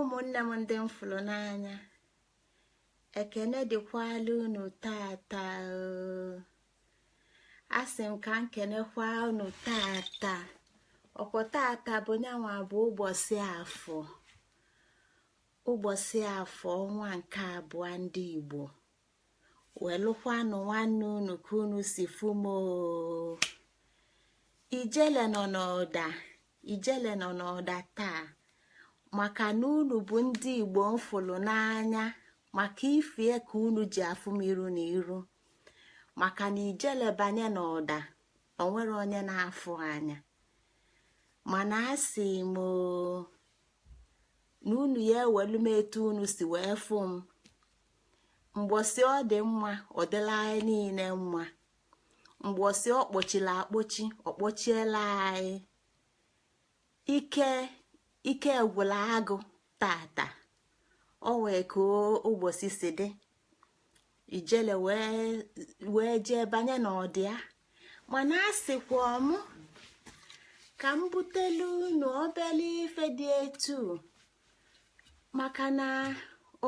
ụmụnne m ndị m fụrụ n'anya ekene dịkwala unu tata asị m ka m kenekwa unu tata ọkwa tata bụ nyanwa bụ ụbọsị afọ ụbọsị afọ ọnwa nke abụọ ndị Igbo welụkwanụ nwanne unu ka unu si fụ m o ijele nọ n'ọda ijele nọ n'ọda taa maka na unu bụ ndị igbo m fụlụ n'anya maka ife a ka unu ji afụ m iru na iru maka na ijele banye n'ọda o nwere onye na-afụ anya mana asị m na unu ya ewelu m etu unu si wee fụ m mbọsị ọ dị mma ọ dịla anyị niile mma mbọsị ọ kpọchila akpọchi ọ kpọchiela anyị ike gwụla agụ tata o nwee ka ụbọsị si dị ijele wee jee banye n'ọda ya mana asịkwa mụ ka m butelu unu obele ife dị etu maka na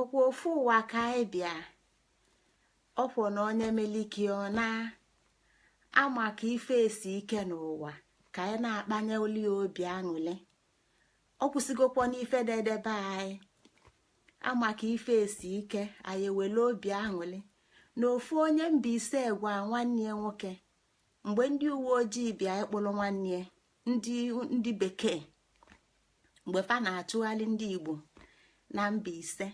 ọkwa ofu ụwa ka anyị bịa ọkwa na onye meliki ọ na ama ka ife esi ike n'ụwa ka anyị na-akpanye oli obi aṅụlị ọ kwụsịgokwa n'ife na-edebe anyị ama ka ife esi ike anyị ewele obi aṅụlị na ofu onye Mbaise gwa nwanne ya nwoke mgbe ndị uwe ojii bịa ịkpụrụ nwanne ya ndị bekee mgbe fa na-achụgharị ndị igbo na Mbaise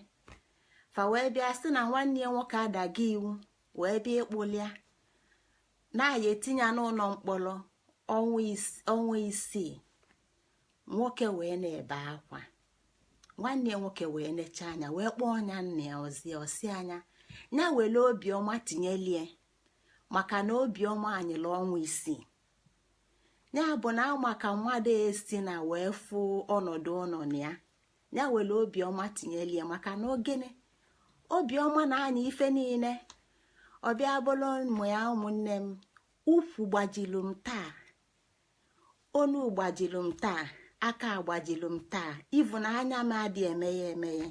fa wee bịa sị na nwanne ya nwoke adago iwu wee bịa ịkpụlụ ya na a ya-etinye n'ụlọ mkpọrọ ọnwa isii nwoke wee na-ebe akwa nwanne ya nwoke wee nechaa ya anya wee kpọọ ọnya nna ya ozi ọ sị ya ya were obiọma tinyelie maka na obiọma anyịla ọnwa isii ya bụ na ama ka mmadụ esi na wee fụ ọnọdụ ọ nọ na ya ya were obiọma tinyelie maka na gịnị obiọma na-anyị ife niile ọ bịa bụrụ ụmụ ya ụmụnne m ụkwụ gbajilu m taa onu gbajilu m taa aka agbajilu m taa ị fụ na anya m adị emeghe emeghe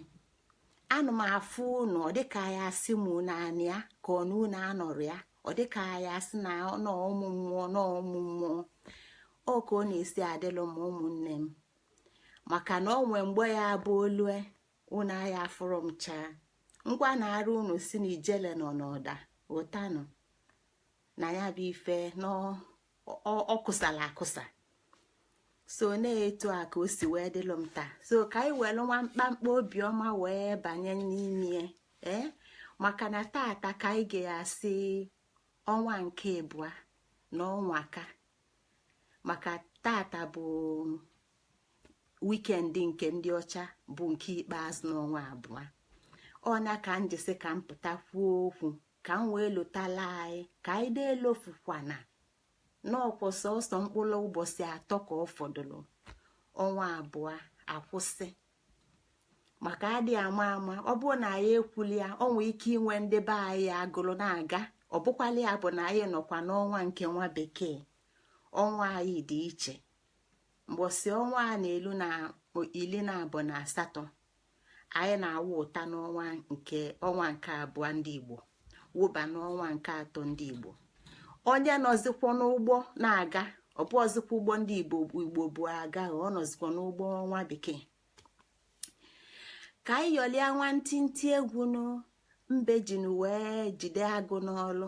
ana m afụ unu ọ dịka ya asị m naanị ya ka ọ na unu anọrọ ya ọ dịka ya asị na ọnụ ụmụ mmụọ na ụmụ mmụọ ọ ka ọ na-esi adịlụ m ụmụnne m maka na o nwee mgbe ya bụ o lue unu aya afụrụ m chaa ngwa na-arụ unu si na ijele nọ n'ọda ụtanụ na ya bụ ife ọ kụsala akụsa so na etu a ka o si wee dịlụ m taa so ka anyị welu nwa mkpamkpa obiọma wee banye n'ime ee eh? maka na tata ka anyị ga-asị ọnwa nke abụa na ọnwa ka maka tata bụ weekend nke ndị ọcha bụ nke ikpeazụ n'ọnwa abụa ọ nya ka m ji sị ka m pụta kwuo okwu ka m wee lotalụ anyị ka anyị na-elofukwana na ọ kwa sọsọ mkpụlụ ụbọsị atọ ka ọ fọdụlụ ọnwa abụa akwụsị maka adị ama ama ọ bụrụ na anyị ekwuli ya o nwee ike inwe ndị be anyị agụlụ na-aga ọ bụkwala ya bụ na anyị nọkwa n'ọnwa nke nwa bekee ọnwa anyị dị iche mbọsị ọnwa a na-elu ili naabọ na asatọ anyị na-awụpụta n'ọnwa nke ọnwa nke abụa ndị igbo wụba n'ọnwa nke atọ ndị igbo onye nọzikwa n'ụgbọ na-aga ọ bụrọzikwa ụgbọ ndị igbo bu aga ọ nọzikwa n'ụgbọ ọnwa bekee ka anyị ṅọlịa nwantịntị egwu nụ mbe jinu wee jide agụ n'olu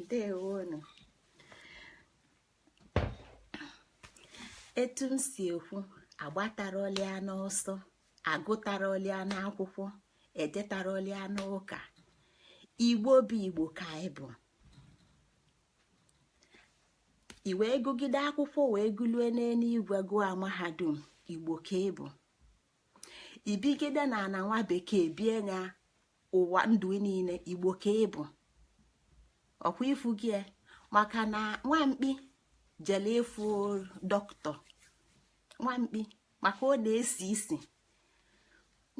ndewonu etu m si ekwu agbatarọlị ya n'ọsọ agụtarọlị ya n'akwụkwọ ejetarọlị ya n'ụka igbo bụ igbo ka anyị bụ i wee gụgide akwụkwọ wee gụlue n'eluigwe gụọ mahadum igbo ka ị bụ i bigide n'ana nwa bekee bie nya ụwa ndụ niine igbo ka ị bụ ọ kwa ị fụgo ya, maka na nwa mkpi jele ịfụ dọkịta nwa mkpi maka ọ na-esi isi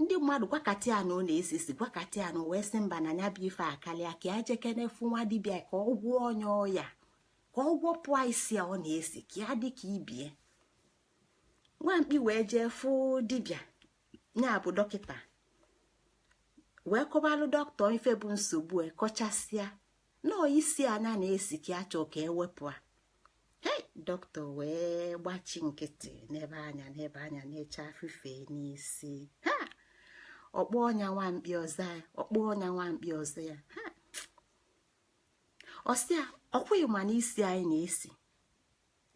ndị mmadụ gwakata ya na ọ na-esi isi gwakata ya nụ o wee sị mba na nya bụ ife akalịa ka ya jekene fụ nwa dibịa ka ọ gwọọ nya ọya ka ọ gwọpụ ya isi a ọ na-esi ka ya dị ka ibe ya nwa mkpi wee jee fụ dibịa ya bụ dọkịta wee kọbalụ dọkịta ife bụ nsogbu ya kọchasịa na ọ isi a nya na-esi ka ya chọ ka e wepụ ya hei dọkịta wee gbachi nkịtị nebe ya anya nebe ya anya nechaa fife n'isi ha ọ kpọọ nya nwa mkpi ọ za ya ọ kpọọ nya nwa mkpi ọ za ya ha ọ sị ya ọ kwa ị ma na isi anyị na-esi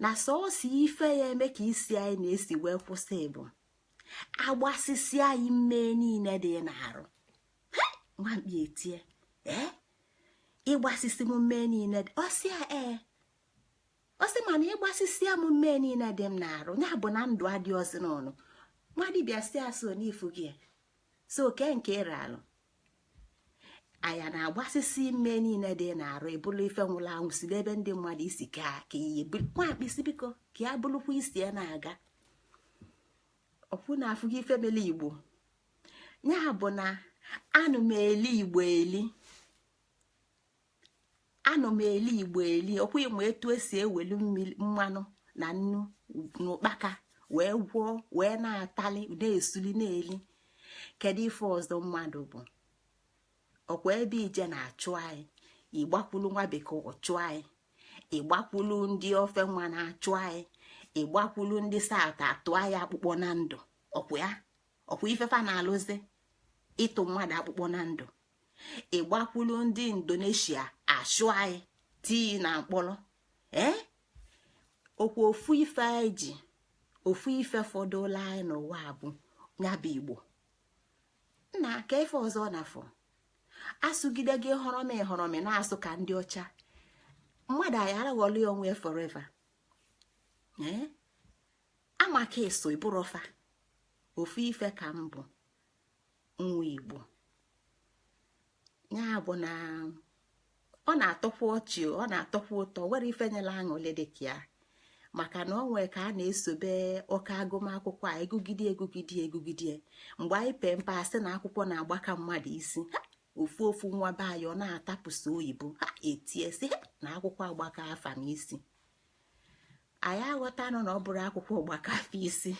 na sọọsọ ife ya-eme ka isi anyị na-esi wee kwụsị bụ a gbasisia anyị mmee niine dị n'arụ nwamkpi etie ee ịgbasisi m mmee niile ọ sị ya ee ọ sị mana ịgbasisi m mmee niile dị m n'arụ ya bụ na ndụ adịrọzi n'ọnụ nwa dibịa si asụ n'ifu gị so oke nke ịra alụ anya na-agbasisi mmee niile dị n'arụ ebulu ife nwụrụ anwụ si n'ebe ndị mmadụ isi ka ka iyi nwamkpi sị biko ka ya burukwa isi ya na-aga ọkwụ na afụghị ife mele igbo ya bụ na anụ m eli igbo eli anụ m eli igbo eli ọkwa ị ma etu esi ewelu mmanụ na nnu na ụkpaka wee gwọọ wee na-atali na-esuli na-eli kedu ife ọzọ mmadụ bụ ọkwa ebe i je a na-achụ anyị ị gbakwulu nwa bekee ọ chụ anyị ị gbakwulu ndị ofe mmanụ achụ anyị ị gbakwulu ndị south atụ anyị akpụkpọ na ndụ ọkwa ya ọkwa ife fa na-alụzi ịtụ mmadụ akpụkpọ na ndụ ị gbakwulu ndị indonesia achụ anyị tii na mkpọrọ ee ọkwa ofu ife anyị ji ofu ife fọdụlụ anyị n'ụwa bụ ya bụ igbo nna kee ife ọzọ na-afọ asụgide gị họrọmị họrọmị na-asụ ka ndị ọcha mmadụ ayarọ aghọli onwe forever amaka eso ịbụrụ fa ofu ife ka m bụ nwa igbo ya bụ na ọ na-atọkwa ọchị ọ na-atọkwa ụtọ nwerọ ife nyelụ aṅụlị dịka ya maka na ọ nwee ka a na-esobe oke agụmakwụkwọ agụgide agụgide agụgide mgbe anyị pee mpe a sị na akwụkwọ na-agbaka mmadụ isi ofu ofu nwa be anyị ọ na-atapụsị oyibo ha etie sị na akwụkwọ agbakaa fa n'isi anyị aghọtanụ na ọ bụrọ akwụkwọ gbaka fa isi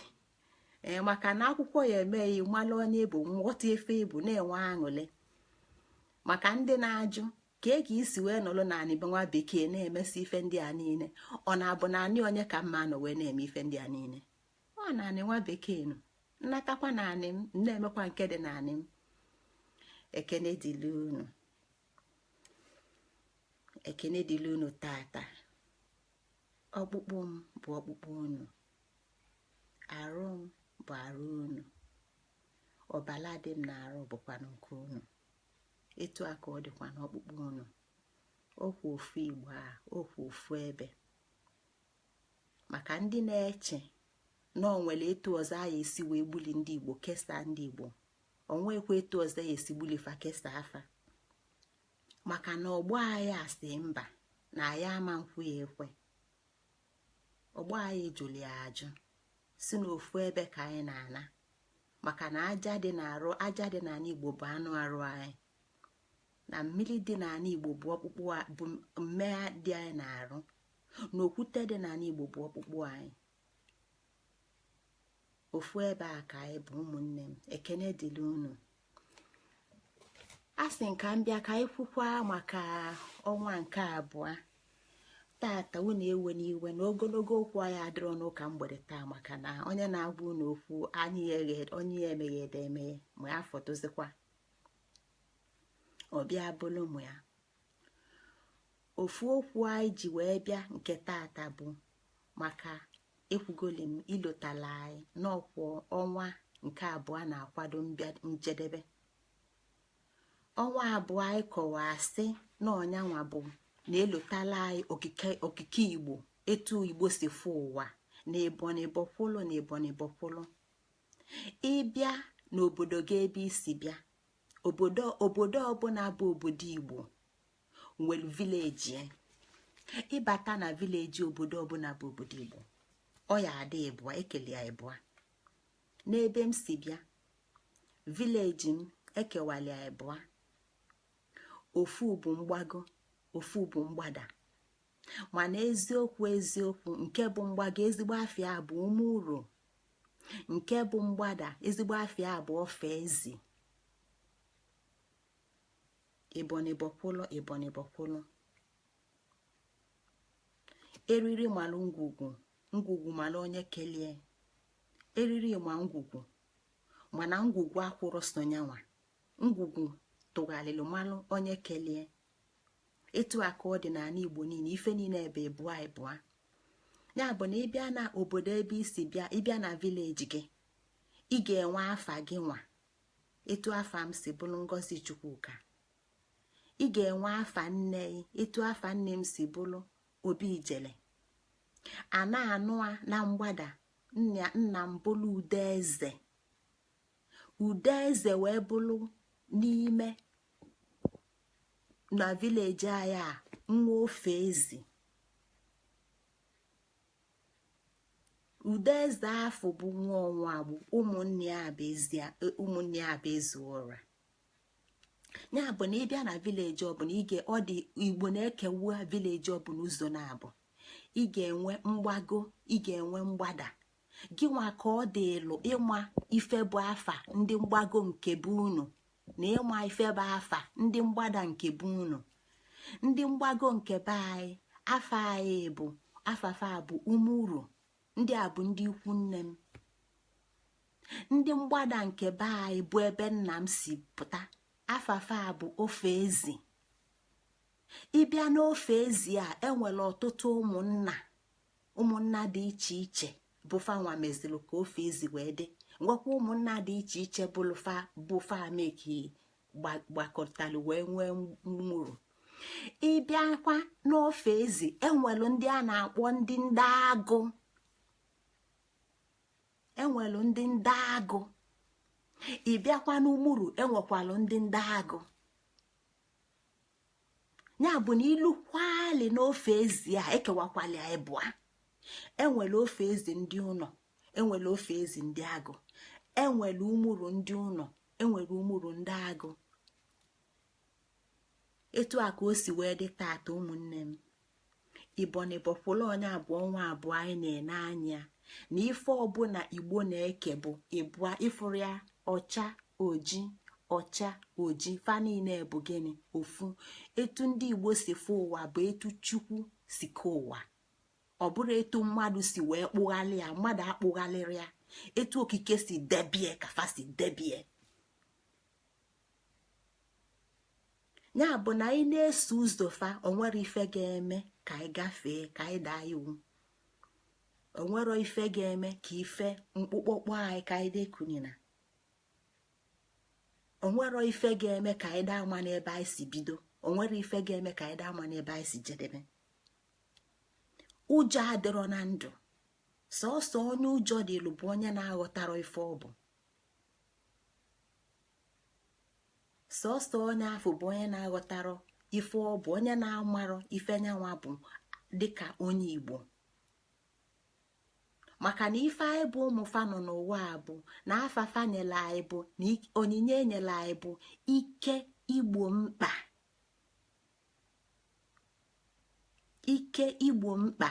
ee maka na akwụkwọ ya-eme gị ị malụ onye ị bụ na-aghọta ife ị bụ na-enwe aṅụlị maka ndị na-ajụ ka ị ga-esi wee nọrọ na anị nwa bekee na-emesi ife ndị a niile ọ na-abụ na anị onye ka mma nọ wee na-eme ife ndị a niile ọ na anị nwa bekee nụ m natakwa na anị m na-emekwa nke dị na anị m ekene dịlu unu ekene dịlụ unu taata ọkpụkpụ m bụ ọkpụkpụ unu arụ m bụ arụ unu ọbala dị m n'arụ bụkwanụ nke unu etu a ka ọ dịkwa n'ọkpụkpụ unu ọkwa ofu igbo a ọkwa ofu ebe maka ndị na-eche na ọ nwere etu ọzọ a ya-esi wee gbuli ndị igbo kesaa ndị igbo o nwekwa etu ọzọ ya esi gbuli fa kesaa fa maka na ọgbọ anyị asị mba na anyị ama nkwe ya ekwe ọgbọ anyị jụlụ ya ajụ si n'ofu ebe ka anyị na-ana maka na aja dị n'arụ aja dị n'anị igbo bụ anụ arụ anyị na mmili dị n'anị igbo bụ ọkpụkpụ bụ mmee dị anyị n'arụ na okwute dị n'anị igbo bụ ọkpụkpụ anyị ofu ebe a ka anyị bụ ụmụnne m ekene dịrị unu asị m ka m bịa ka anyị kwukwa maka ọnwa nke abụọ tata unu ewena iwe na ogologo okwu anyị adịrọ n'ụka mgbede taa maka na onye na-agwa unu okwu anyị onye ya emeghe ede emeghe ma ya fọdụzikwa ọbịa bụlụ mụ ya ofu okwu anyị ji wee bịa nke tata bụ maka ekwugoli m ilotala anyị n'ọkwụ ọnwa nke abụọ na-akwado njedebe ọnwa abụọ anyị kọwaa sị na ọ nya nwa bụ na-elotala anyị okike igbo etu igbo si fụ ụwa na ịbọ n'ịbọ kwụlụ na ịbọ n'ịbọ kwụlụ ị bịa n'obodo gị ebe i si bịa obodo obodo ọbụna bụ obodo igbo nwere village e. ị bata na village obodo ọbụna bụ obodo igbo ọ ya adị ịbụa e keli ya ịbụa n'ebe m si bịa village m e kewali ya ịbụa ofu bụ mgbago ofu bụ mgbada mana eziokwu eziokwu nke bụ mgbago ezigbo afa ya bụ ume ụrọ nke bụ mgbada ezigbo afa ya bụ ofe ezi ịbọ n'ịbọ kwụlụ ịbọ n'ịbọ kwụlụ eriri malụ ngwugwu ngwugwu malụ onye kelie eriri ma ngwugwu mana ngwugwu akwụrọ sọ nya nwa ngwugwu tụgharịrị malụ onye kelie etu a ka ọ dị n'anị igbo niine ife niine ebe ịbụa ịbụa ya bụ na ị bịa na obodo ebe i si bịa ị bịa na village gị ị ga-enwe afa gị nwa etu afa m si bụrụ ngozi chukwuka ị ga-enwe afa nne ị etu afa nne m si bụrụ obi ijele a na-anụ a na mgbada nna nna m bụrụ udeze udeze wee bụrụ n'ime na village anyị a nwa ofe ezi udeze afụ bụ nwa ọnwa agbụ ụmụnna ya bụ ezi ọra ya bụ na ị bịa na village ọbụna ige ọ dị igbo na-ekewa village ọbụna ụzọ naabọ ị ga-enwe mgbago ị ga-enwe mgbada gị nwa ka ọ dịlụ ịma ife bụ afa ndị mgbago nke be unu na ịma ife bụ afa ndị mgbada nke be unu ndị mgbago nke be anyị afa anyị bụ afa fa bụ umuru ndị a bụ ndị ikwu nne m ndị mgbada nke be anyị bụ ebe nna m si pụta afa fa bụ ofe ezi ịbịa n'ofe ezi a enwere ọtụtụ ụmụnna ụmụnna dị iche iche bụ fa nwa mezilu ka ofe ezi wee dị nwekwa ụmụnna dị iche iche bụ fa me ka gbakọtalụ wee nwee umuru ịbịakwa n'ofe ezi enwelu ndị a na-akpọ ndị ndị agụ enwelu ndị ndị agụ ịbịakwa n'umuru enwekwalụ ndị ndị agụ ya bụ na ilukwali n'ofe ezi a ekewakwalị ya ịbụa enwere ofe ezi ndị ụnọ enwere ofe ezi ndị agụ enwere umuru ndị ụnọ enwere umuru ndị agụ etu a ka o si wee dị taata ụmụnne m ibonibọkwụla onye abụọ ọnwa abụọ anyị na-ene anya na ife ọbụla igbo na-eke bụ ịbụa ịfụrụ ya ọcha oji ọcha oji fa niine bụ gịnị ofu etu ndị igbo si fụ ụwa bụ etu chukwu si ke ụwa ọ bụrọ etu mmadụ si wee kpụghalị ya mmadụ akpụghalịrọ ya etu okike si debie ka fa si debie ya bụ na anyị na-eso ụzọ fa onwerọ ife ga-eme ka anyị gafee ka anyị daa iwu onwerọ ife ga-eme ka ife mkpọkpọ kpọ anyị ka anyị da ekunina onwerọ ife ga-eme ka anyị da amana ebe anyị si bido onwerọ ife ga-eme ka anyị da amana ebe anyị si jedebe ụjọ adịrọ na ndụ sọsọ onye ụjọ dịlụ bụ onye na-aghọtarọ ife ọ bụ sọsọ onye afụ bụ onye na-aghọtarọ ife ọ bụ onye na-amarọ ife nya nwa bụ dịka onye igbo maka na ife anyị bụ ụmụ fa nọ n'ụwa a bụ na afa fa nyelu anyị bụ na onyinye enyelu anyị bụ ike igbo mkpa ike igbo mkpa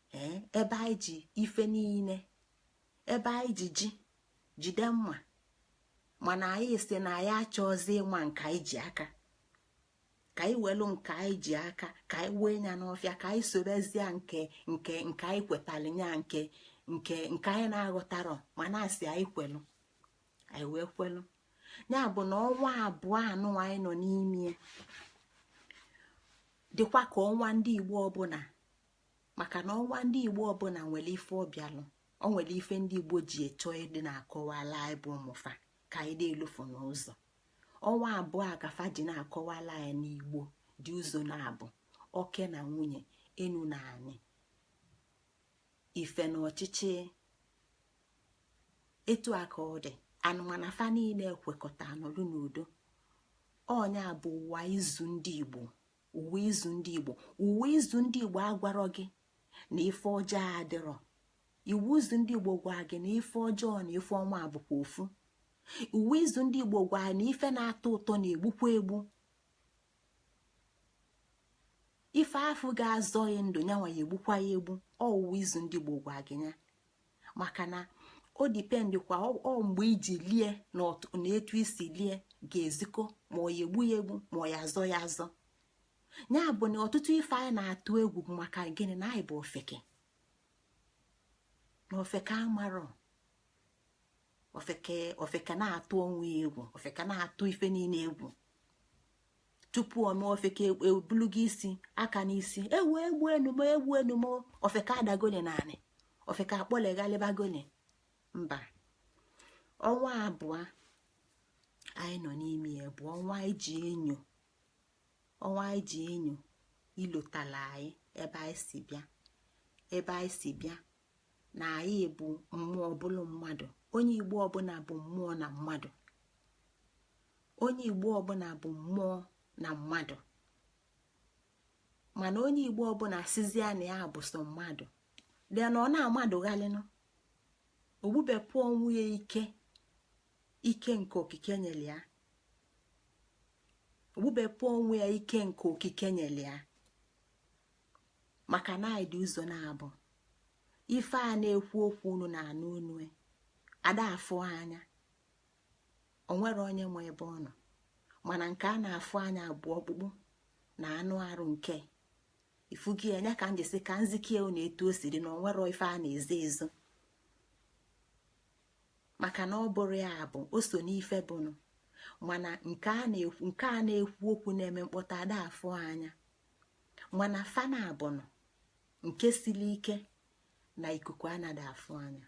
ee ebe anyị ji ife niine ebe anyị ji ji jide mma mana anyị sị na anyị achọzi ịma nke anyị ji aka ka anyị welu nke anyị ji aka ka anyị wee nya n'ọfịa ka anyị sobezie nke nke nke anyị kwetalụ nya nke nke nke anyị na-aghọtarọ mana asị anyị kwelu anyị wee kwelu ya bụ na ọnwa abụọ anụ anyị nọ n'ime dịkwa ka ọnwa ndị igbo ọbụla maka na ọnwa ndị igbo ọbụla nwere ife ọbịalụ ọ nwere ife ndị igbo ji eto ịdị na-akọwala anyị bụ ụmụfa ka anyị na-elufu n'ụzọ ọnwa abụọ a ka fa ji na-akọwala anyị na igbo dị ụzọ naabọ oke na nwunye enu na anị ife na ọchịchị etu a ka ọ dịanụ mana fa niile ekwekọta nọlụ n'udo ọ nya bụ ụwa izu ndị igbo ụwa izu ndị igbo ụwa izu ndị igbo agwarọ gị na ife ọjọọ adịrọ ụwa izu ndị igbo gwa gị na ife ọjọọ na ife ọma bụkwa ofu ụwa izu ndị igbo gwa na ife na-atọ ụtọ na-egbukwa egbu ife afụ ga-azọ gị ndụ nyanwa ya egbukwa ya egbu ọ ụwa izu ndị igbo gwa gị ya maka na o depend kwa ọ mgbe i ji lie na etu i si lie ga-ezikọ ma ọ ya egbu ya egbu ma ọ ya azọ ya azọ ya bụ na ọtụtụ ife anyị na-atụ egwu maka gịnị na anyị bụ ofeke na ofeke amarọ ofeke na-atụ onwe ya egwu ofeke na-atụ ife niile egwu tupu o mee ofeke ebulugo isi aka n'isi ewo egbue nụ m e egbue nụ m e ofeke adagoni n'anị ofeke akpọleghalịbagoni mba ọnwa abụọ anyị nọ n'ime ya bụ ọnwa anyị ji enyo ọnwa anyị ji enyo ilotala anyị ebe anyị si bịa ebe anyị si bịa na anyị bụ mmụọ bụlụ mmadụ onye igbo ọbụla bụ mmụọ na mmadụ onye igbo ọbụla bụ mmụọ na mmadụ mana onye igbo ọbụla sịzie na ya bụ sọ mmadụ dị na ọ na-amadụghalịnụ o gbubepụ onwe ya ike ike nke okike nyere ya o gbubepụ onwe ya ike nke okike nyere ya maka na anyị dị ụzọ naabọ ife a na-ekwu okwu unu na-anụ onu ya ada afụ anya o nwerọ onye ma ebe ọ nọ mana nke a na-afụ anya bụ ọkpụkpụ na anụ arụ nke ifugi anya ka m jesi ka nzikie unu etu o si dị na o nwerọ ife a na-ezo ezo maka na ọ bụrụ ya bụ o so n'ife bụnụ mana nke a na-ekwu okwu na-eme mkpọtụ ada afụ anya mana fa naabọ nụ nke siri ike na ikuku anada afụ anya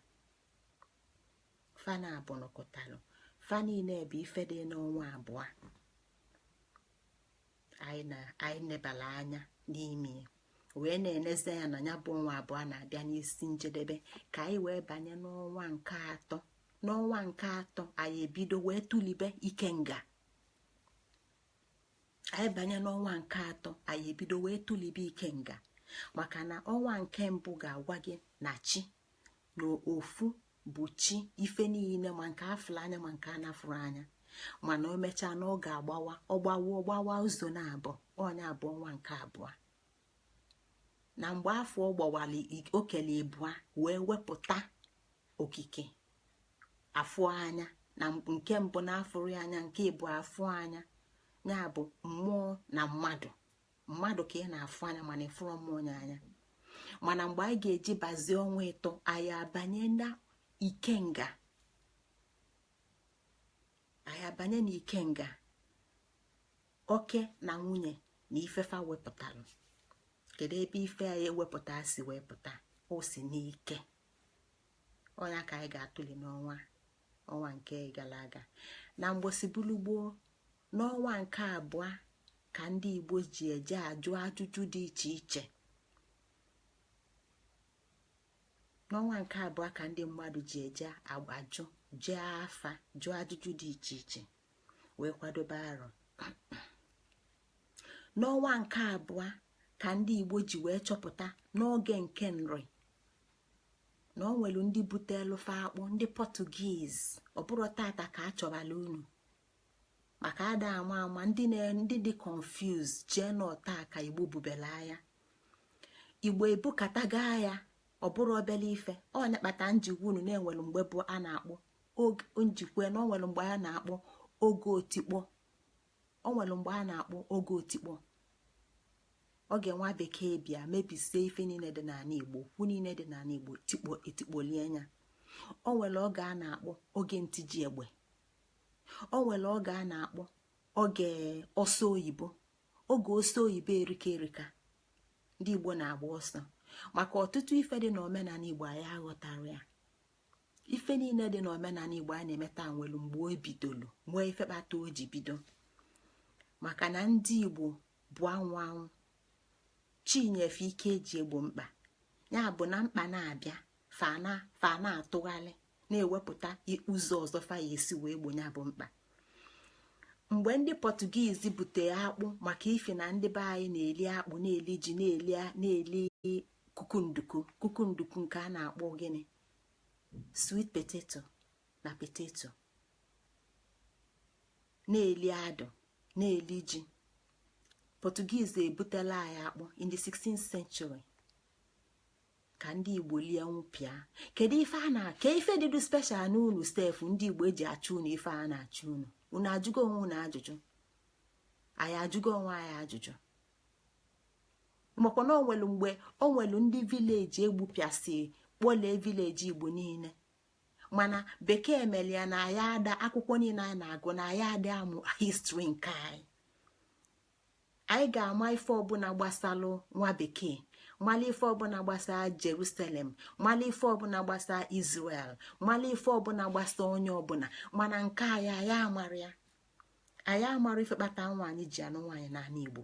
fa naabọ nụ kụtalụ fa niile bụ ife dị n'ọnwa abụọ anyị nebala anya n'ime wee na-enezi anya na ya bụ ọnwa abụọ na-abịa n'isi njedebe ka anyị wee banye n'ọnwa nke atọ n'ọnwa nke atọ anyị ebido wee tulebe ikenga anyị banye n'ọnwa nke atọ anyị ebido wee tụlibe ikenga maka na ọnwa nke mbụ ga-agwa gị na chi na ofu bụ chi ife niile ma nke a fụlụ anya ma nke a na-afụrọ anya mana o mechaa na ọ ga-agbawa ọgbawa ọgbawa ụzọ naabọ ọ nya bụ ọnwa nke abụọ na mgbe afụ ọ gbawara o kelu ịbụa wee wepụta okike afụ anya na nke mbụ a na-afụrọ anya nke ịbụa a fụ anya ya bụ mmụọ na mmadụ mmadụ ka ị na-afụ anya mana ị fụrọ mmụọ anya mana mgbe anyị ga-eji bazie ọnwa ịtọ anyị abanye na ikenga anyị abanye na ikenga oke na nwunye na ife fa wepụtara kedu ebe ife anyị ewepụta si wepụta o si n'ike ọ nya ka anyị ga-atụli n'ọnwa ọnwa nke gara aga na mgbosi bulu gboo n'ọnwa nke abụọ ka ndị igbo ji eje ajụ ajụjụ dị iche iche n'ọnwa nke abụọ ka ndị mmadụ ji eje ajụ jee afa jụọ ajụjụ dị iche iche wee kwadobe arọ n'ọnwa nke abụọ ka ndị igbo ji wee chọpụta n'oge nke nri na o nwere ndị butelu fa akpụ ndị pọtugiz ọ bụrọ tata ka a chọbalụ unu maka ada ama ama ndị ndị dị confused chee na ọ taa ka igbo bubelu aya igbo ebukatago aya ọ bụrọ obele ife ọ nya kpata m ji gwa unu na e nwere mgbe bụ a na-akpọ njikwa na o nwere mgbe a na-akpọ oge otikpo o nwere mgbe a na-akpọ oge otikpo oge nwa bekee bịa mebisie ife niile dị n'ala igbo okwu niile dị n'ala igbo tikpo etikpolie anya o nwere oge a na-akpọ oge ntiji egbe o nwere oge a na-akpọ oge ọsọ oyibo oge ọsọ oyibo erika erika ndị igbo na-agba ọsọ maka ọtụtụ ife dị n'omenala igbo anyị aghọtarọ ya ife niile dị n'omenala igbo a na-eme taa nwere mgbe o bidolu nwee ife kpata o ji bido maka na ndị igbo bụ anwụ anwụ chi nye fa ike e ji egbo mkpa ya bụ na mkpa na-abịa fa na fa na-atụgharị na-ewepụta ụzọ ọzọ fa ya-esi wee gbo ya bụ mkpa mgbe ndị pọtugiiz butere akpụ maka ifi na ndị be anyị na-eli akpụ na-eli ji na-eli kukunduku kukunduku nke a na-akpọ gịnị sweet potato na potato na-eli adụ na-eli ji portuguese ebutela anyị akpụ in the 16th century ka ndị igbo lie nwụpịa kedu ife ka ife dịdụ special na unu sef ndị igbo eji achụ unu ife a na-achụ unu unu ajụgo onwe unu ajụjụ anyị ajụgo onwe anyị ajụjụ makwa na o nwelu mgbe o nwelu ndị village egbupịasị kpọlee village igbo niile mana bekee mere ya na anyị ada akwụkwọ niine anyị na-agụ na anyị ada amụ history nke anyị anyị ga-ama ife ọbụna gbasalụ nwa bekee mala ife ọbụna gbasa jerusalem mala ife ọbụna gbasa israel mala ife ọbụna gbasa onye ọbụna mana nke anyị anyị amarọ ya anyị amarọ ife kpata nwaanyị ji anụ nwaanyị n'anị igbo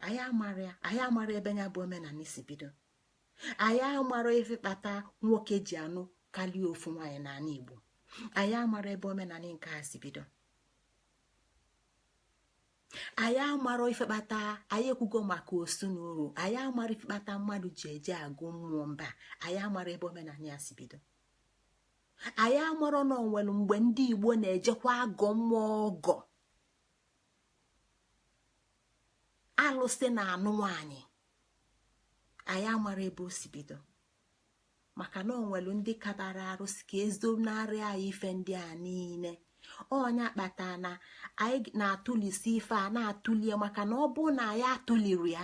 anyị amarọ ya anyị amarọ ebe ya bụ omenanị si bido anyị amarọ ife kpata nwoke ji anụ karịa ofu nwaanyị n'anị igbo anyị amarọ ebe omenanị nke a si bido anyị amarọ ife kpata anyị ekwugo maka osu na oru anyị amarọ ife kpata mmadụ ji eje agọ mmụọ mba anyị amarọ ebe omenanị ya si bido anyị amarọ na o nwelu mgbe ndị igbo na-ejekwa agọ mmụọ ọgọ alụsị na-anụ nwanyị anyị amarọ ebe o si bido maka na o nwelu ndị ka na-arụsi ike ezonarị anyị ife ndị a niine ọ nya kpata na anyị na-atụlisi ife a na-atụlie maka na ọ bụ na anyị atụlirọ ya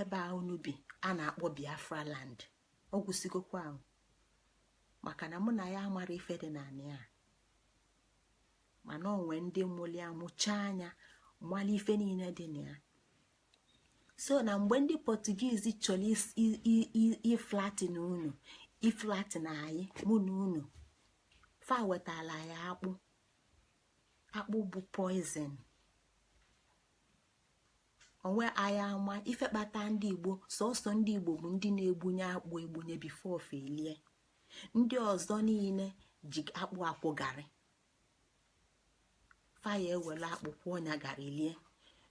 ebe a unu bi a na-akpọ biafra land ọ gwụsịgokwa ahụ maka na mụ na ya amarọ ife dị n'anị a mana o nwe ndị mụlụ ya mụcha nya malụ ife niine dị na ya so na mgbe ndị portuguese chọrọ iflatten unu iflatten anyị mụ na unu fa wetala anyị akpụ akpụ bụ poison onwe anyị ama ife kpata ndị igbo sọsọ ndị igbo bụ ndị na-egbunye akpụ egbunye before fa elie ndị ọzọ niine ji akpụ akwọ garị fa ya-ewele akpụ kwọọ nya garị lie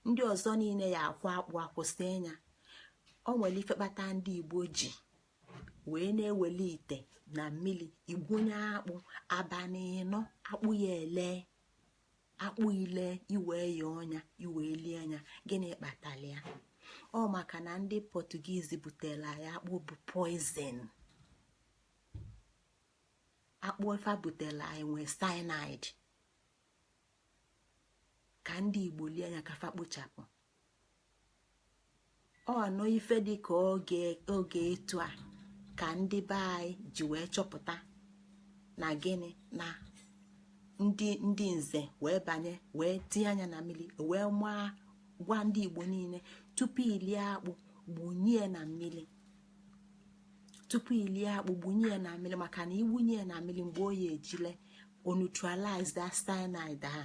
ndị ọzọ niine ya-akwọ akpụ akwọ sie nya o nwere ife kpata ndị igbo ji wee na-ewele ite na mili egbunye akpụ abanị ịnọ akpụ ya-ele akpụ elee e wee yọọ nya e wee lie nya gịnị kpatalụ ya ọ maka na ndị portuguese butelụ anyị akpụ bụ poison akpụ fa butelụ anyị nwee cyanide ka ndị igbo lie nya ka fa kpochapụ ọ nọ ife dị ka oge etu a ka ndị be anyị ji wee chọpụta na gịnị na ndị nze wee banye wee tinye anya na mmiri wee maa gwa ndị igbo niile tupu ilie akpụ gbunye na mmiri tupu ilie akpụ gbunye na mmiri maka na igbunye na mmiri mgbe ọ ya eji lee o neutralize that cyanide a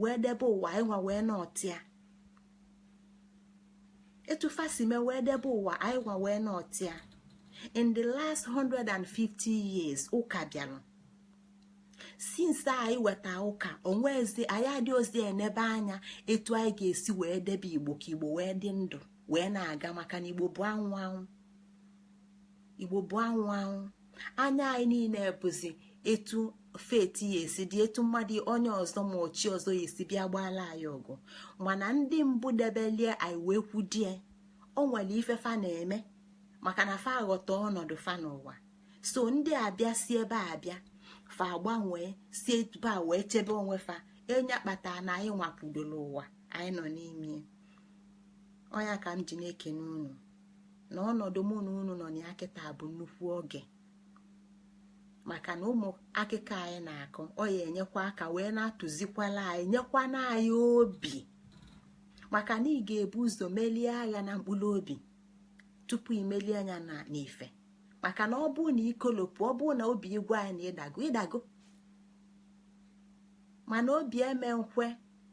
wee debe ụwa anyị nwa wee nọtịa etu fa si mee wee debe ụwa anyị nwa wee nọtịa in the last 150 years ụka bịara since anyị weta ụka o nwezi anyị adịrọzị enebe anya etu anyị ga-esi wee debe igbo ka igbo wee dị ndụ wee na-aga maka na igbo bụ anwụ anwụ igbo bụ anwụ anwụ anya anyị niile bụzi etu faith ya esi dị etu mmadụ onye ọzọ ma ọ chi ọzọ ya esi bịa gbaala anyị ọgụ mana ndị mbụ debelie anyị wee kwudie o nwere ife fa na-eme maka na fa aghọta ọnọdụ fa n'ụwa so ndị a bịa si ebe a bịa fa agbanwee si ebe a wee chebe onwe fa ọ nya kpata na anyị nwa kwudoro ụwa anyị nọ n'ime ọ nya ka m ji na-ekene unu na ọnọdụ mụ na unu nọ na ya kịta bụ nnukwu oge maka na ụmụ akụkọ anyị na-akọ ọ ya enyekwa aka wee na-atụzikwala anyị nyekwa na anyị obi maka na ị ga-ebu ụzọ melie agha na mkpụrụ obi tupu i melie nya n'ife maka na ọ bụ na i kolopụ ọ bụ na obi ị gwa ị na ị dago ị dago mana obi ama ekwe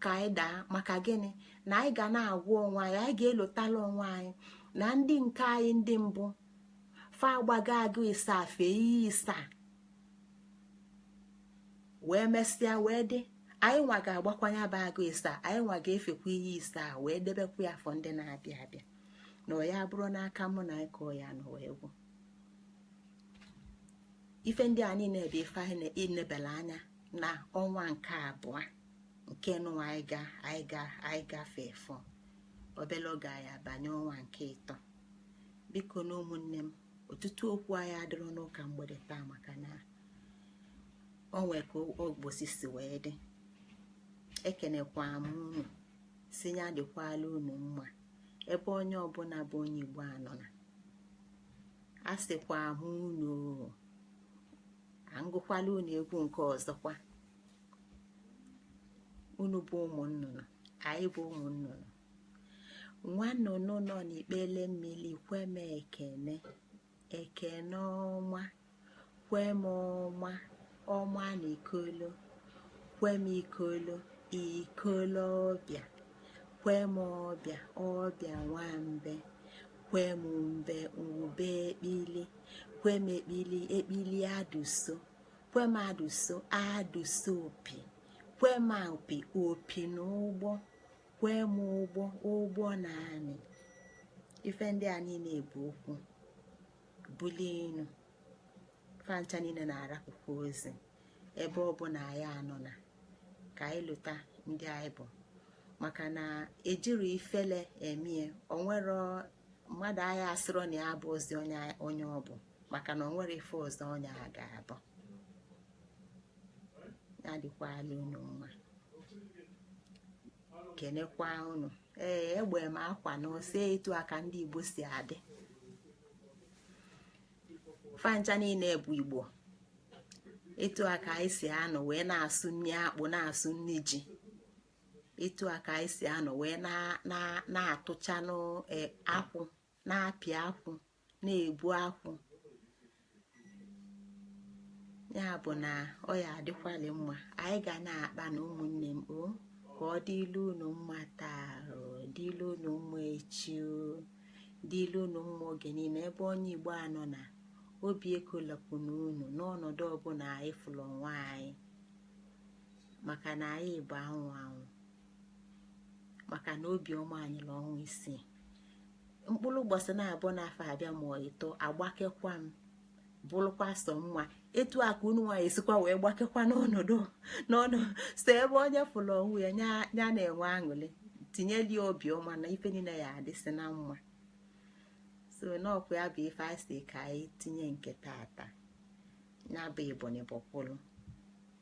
ka anyị daa maka gịnị na anyị ga na-agwa onwe anyị anyị ga-elotala onwe anyị na ndị nke anyị ndị mbụ fa agbago agụ isaa fee iyi isaa wee mesịa wee dị anyị nwa ga-agbakwa nya bụ agụ isaa anyị nwa ga-efekwa iyi isaa wee debekwa ya for ndị na-abịa abịa na ọ ya abụrọ n'aka mụ na ị ka ọ ya anọ wee gwụ ife ndị a niile bụ ife anyị na-enebela anya na ọnwa nke abụọ nke nụwa anyị ga anyị gafee ọ fọ obere oge anyị abanye ọnwa nke ịtọ bikonụ ụmụnne m ọtụtụ okwu anyị adịrọ n'ụka mgbede taa maka na o nwe ka ụbọsị si wee dị ekenekwa m unu sị ya dịkwala unu mma ebe onye ọbụla bụ onye igbo anọ na asịkwa m unu ka m gụkwala unu egwu nke ọzọkwa unu bụ ụmụ nnụnụ anyị bụ ụmụ nnụnụ nwa nnụnụ nọ n'ikpele mmili kwe m ekene ekene ọma kwe m ọma ọma na ikolo kwe m ikolo ikolo ọbịa kwe m ọbịa ọbịa nwambe kwe m mbe ube ekpili kwe m ekpili ekpili adụso kwe m adụso adụso opi kwe m opi opi na ụgbọ kwe m ụgbọ ụgbọ na amị ife ndị a niine bụ okwu bulie enu fancha niine na-arapụkwa ozi ebe ọbụna anyị anọna ka anyị lota ndị anyị bụ maka na ejiri ifele emie o nwere mmadụ anyị asịrọ na ya abụzi onye ọ bụ maka na o nwere ife ọzọ onye a ga-abụ ya dịkwalụ unu mma kenekwa unu ee egbe m akwa na ose etu a ka ndị Igbo si adị fancha niine bụ Igbo etu a ka anyị si anọ wee na-asụ nri akpụ na-asụ nri ji etu a ka anyị si anọ wee na-atụchanụ e, akwụ na-apị akwụ na-egbu akwụ ya bụ na ọ ya adịkwali mma anyị ga na-akpanụ ụmụnne m o ka ọ dịlụ unu mma taa dịlụ unu mma echi dịlụ unu mma oge niine ebe onye igbo anọna obi ekolapụna unu n'ọnọdụ ọbụna anyị fụlụ onwe anyị maka na anyị bụ anwụ anwụ maka na obiọma anyị na ọnwa isii mkpụlụ ụbọsị naabọ n'afọ abịa ma ọ ịtọ agbakekwa m bụlụkwa sọ mma etu a ka unu nwa ya-esikwa wee gbakekwa n'ọnọdụ unu nọ so ebe onye fụlụ onwe ya ya na-enwe aṅụrị tinyeli obiọma na ife niine ya adịsị na mma so n'ọkwa ya bụ ife anyị sị ka anyị tinye nke tata ya bụ ebonyi bọkwụrụ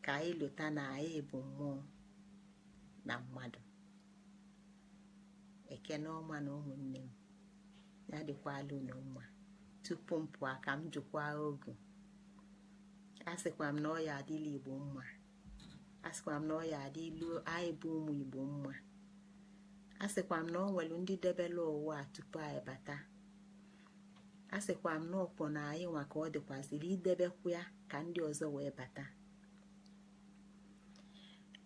ka anyị lota na anyị bụ mmụọ na mmadụ ekene ọma na ụmụnne m ya dịkwalụ unu mma tupu m pụọ ka m jukwa ogu a sịkwa m na ọ ya adịlị igbo mma a sịkwa m na ọ ya adịlụ anyị bụ ụmụ igbo mma a sịkwa m na o nwere ndị debela ụwa tupu anyị bata a sịkwa m na ọkwa na anyị nwa ka ọ dịkwazịrị idebekwa ya ka ndị ọzọ wee bata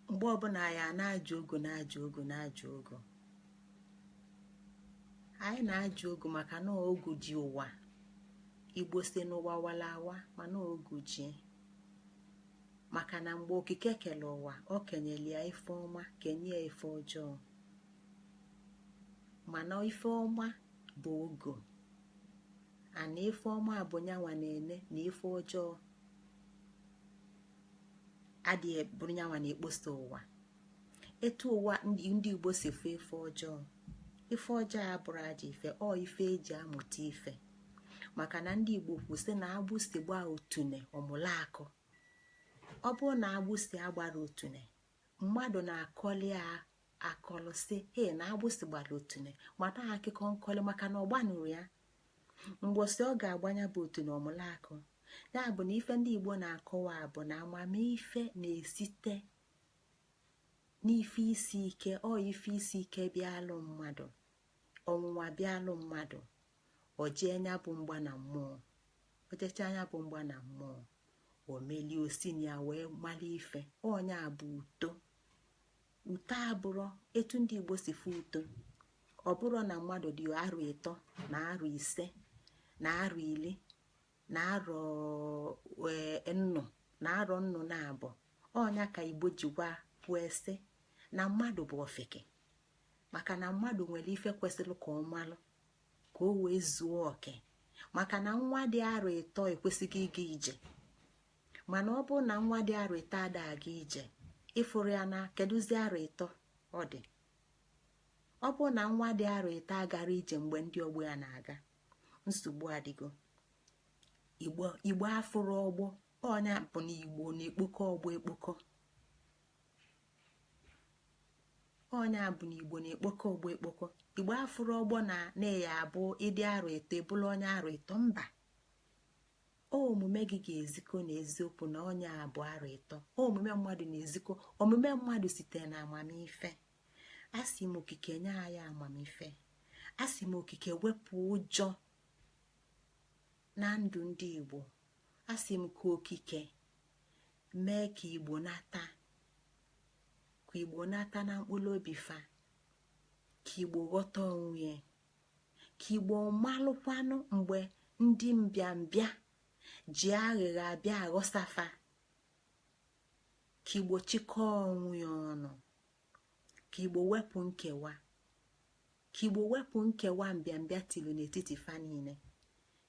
mgbe ọbụla anyị na-ajụ ogu na-ajụ ogu na-ajụ ogu anyị na-ajụ ogu maka na ogu ji ụwa igbo sị na ụwa walụ awa mana ogu ji ya maka na mgbe okike kele ụwa o kenyelụ ya ife ọma kenye ya ife ọjọọ mana ife ọma bụ ogu and ife ọma bụ nyanwa na-ene na ife ọjọọ adịghị e, bụrụ nyanwa na-ekposa ụwa etu ụwa ndị Igbo si fụ ife ọjọọ ife ọjọọ abụrọ ajọ ife ọ ife eji amụta ife maka na ndị Igbo kwu sị na agbụsi gbaa otune ọ mụlụ akọ ọ bụrụ na agbụsi agbarọ otune mmadụ na-akọlị ya akọlị sị ya na agbụsị gbara otune mata akụkọ nkọlị maka na ọ gbanụrọ ya mbọsị ọ ga-agba nya bụ otune ọ mụlụ akọ ya bụ na ife ndị igbo na-akọwa bụ na amamife na-esite n'ife isi ike ọ ife isi ike bịalụ mmadụ ọnwụnwa bịalụ mmadụ o je nya bụ mgba na mmụọ o jecha nya bụ mgba na mmụọ o melie o si na ya wee mara ife ọ nya bụ uto uto abụrọ etu ndị igbo si fụ uto ọ bụrọ na mmadụ dị arọ ịtọ na arọ ise na arọ iri na arọ e, nnụ na arọ nnụ na abụọ ọ nya ka igbo jikwa kwuo sị na mmadụ bụ ofeke maka na mmadụ nwere ife kwesịrị ka ọ malụ ka o wee zuo oke maka na nwa dị arọ ịtọ ekwesịgo ịga ije mana ọ bụrụ na nwa dị arọ ịtọ ada aga ije ị fụrụ ya na kedụzi arọ ịtọ ọ dị ọ bụrụ na nwa dị arọ ịtọ agarọ ije mgbe ndị ọgbọ ya na-aga nsogbu adịgo igbo afụrọ ọgbọ ọ nya bụ na igbo na-ekpokọ ọgbọ ekpokọ ọ nya bụ na igbo na-ekpokọ ọgbọ ekpokọ igbo afụrọ ọgbọ na na ọ ya-abụ ị dị arọ ịtọ ị bụlụ onye arọ ịtọ mba omume gị ga-ezikọ na eziokwu na onye a bụ arọ ịtọ omume mmadụ na-ezikọ omume mmadụ site na amamife asị m okike nye anyị amamife asị m okike wepụ ụjọ na ndụ ndị igbo asị m ka okike mee ka igbo nata ka igbo nata na mkpụrụ obi fa ka igbo ghọta onwe ka igbo malụkwanụ mgbe ndị mbịambịa ji aghịgha abịa aghọsa fa ka igbo chịkọọ onwe ya ọnụ ka igbo wepụ nkewa ka igbo wepụ nkewa mbịambịa tilu n'etiti fa niile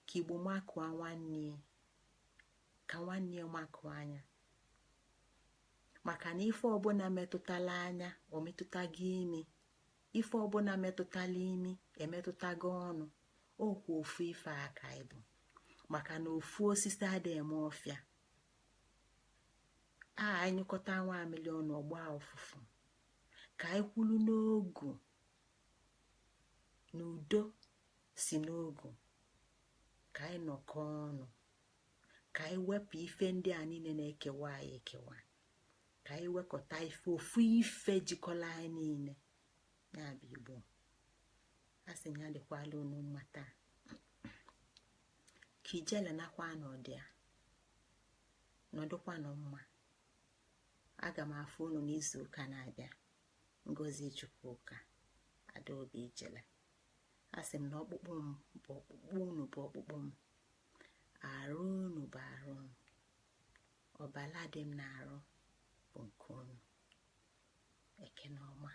ka igbo makụọ nwanne ka nwanne ya makụọ anya maka na ife ọbụna metụtalụ anya o metụtago imi ife ọbụna metụtalụ imi emetụtago ọnụ ọ kwa ofu ife ka anyị bụ maka na ofu osisi adịghị eme ọfịa a nyụkọta nwamịlị ọnụ ọ gbaa ụfụfụ ka anyị kwụlụ n'ogu na udo si n'ogu ka anyị nọkọ ọnụ ka anyị wepụ ife ndị a niile na-ekewa anyị ekewa ka anyị wekọta ife ofu ife jikọlụ anyị niile ya bụ igbo a sị ya dịkwalụ unu mma taa ka ijele nakwa n'ọdụ ya nọdụkwanụ mma aga m afụ unu n'izu ụka na-abịa ngozi chukwuka adaobi ijele a sị m na ọkpụkpụ m bụ ọkpụkpụ unu bụ ọkpụkpụ m arụ unu bụ arụ m ọbala dị m n'arụ bụ nke unu ekene ọma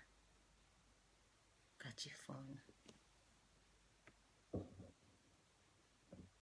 ka chi foonụ